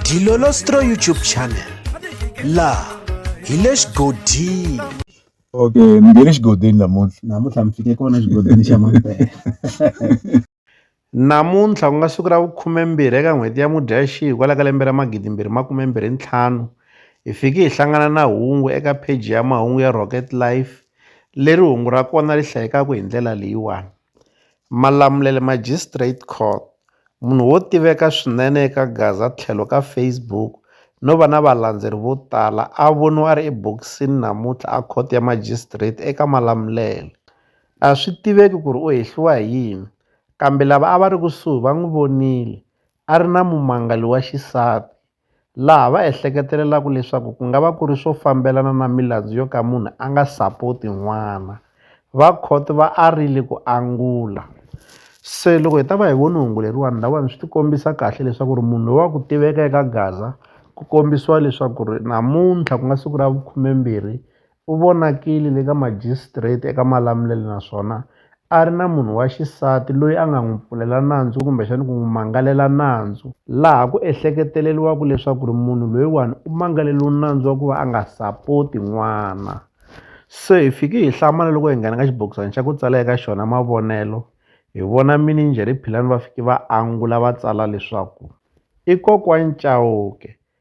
Dilolostro YouTube channel la hi le xigodini okay mi nge le xigodini namuntlha namuntlha mi fike kona xigodini xa mampela namuntlha ku nga siku ra vukhumembirhi eka n'hweti ya mudyaxihi kwala ka lembe ra magidimbirhi makumembirhi ntlhanu hi fike hi hlangana na hungu eka pheji ya mahungu ya rocket life leri hungu ra kona ri hlayekaka hi ndlela leyiwani Malamulele, Magistrate Court, Munhu wo tiveka swinene eka Gaza tlhelo ka Facebook no va na valandzeri vo tala a voniwa a ri ebokisini namuntlha eKhoto ya Magistrate eka Malamulele. A swi tiveki ku ri u hehliwa hi yini, kambe lava a va ri kusuhi va n'wi vonile a ri na mumangali wa xisati. laha va ehleketelelaka leswaku ku nga va ku ri swo fambelana na milandzu yo ka munhu a nga sapoti n'wana va court va arile ku angula se loko hi ta va hi voni hungu leriwani lawani swi ti kombisa kahle leswaku ri munhu loyi wa ku tiveka eka gaza ku kombisiwa leswaku ri namuntlha ku nga siku ra vukhumembirhi u vonakile le ka majisitareti eka Malamulele naswona a ri na munhu wa xisati loyi a nga n'wi pfulela nandzu kumbexana ku n'wi mangalela nandzu laha ku ehleketeleriwaka leswaku ri munhu loyiwani u mangaleriwe nandzu wa ku va a nga sapoti n'wana se hi fike hi hlamala loko hi nghena ka xibokisana xa ku tsala eka xona mavonelo hi vona mini njhe ri philani va fike va angula va tsala leswaku i kokwana Chauke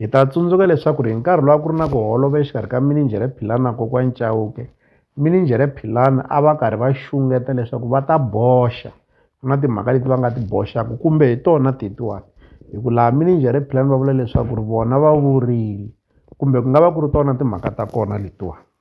Hi ta tsundzuka leswaku ri hi nkarhi lowu a ku ri na ku holova exikarhi ka mininjhere Philani na kokwani Chauke mininjhere Philani a va karhi va xungeta leswaku va ta boxa ku na timhaka leti va nga ti boxaka kumbe hi tona tetiwani hi ku laha mininjhere Philani va vula leswaku ri vona va vurile kumbe ku nga va ku ri tona timhaka ta kona letiwani.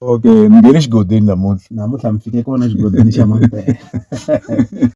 okay mi nge le xigodini namuntlha namuntlha mi fike kona exigodini xa mampela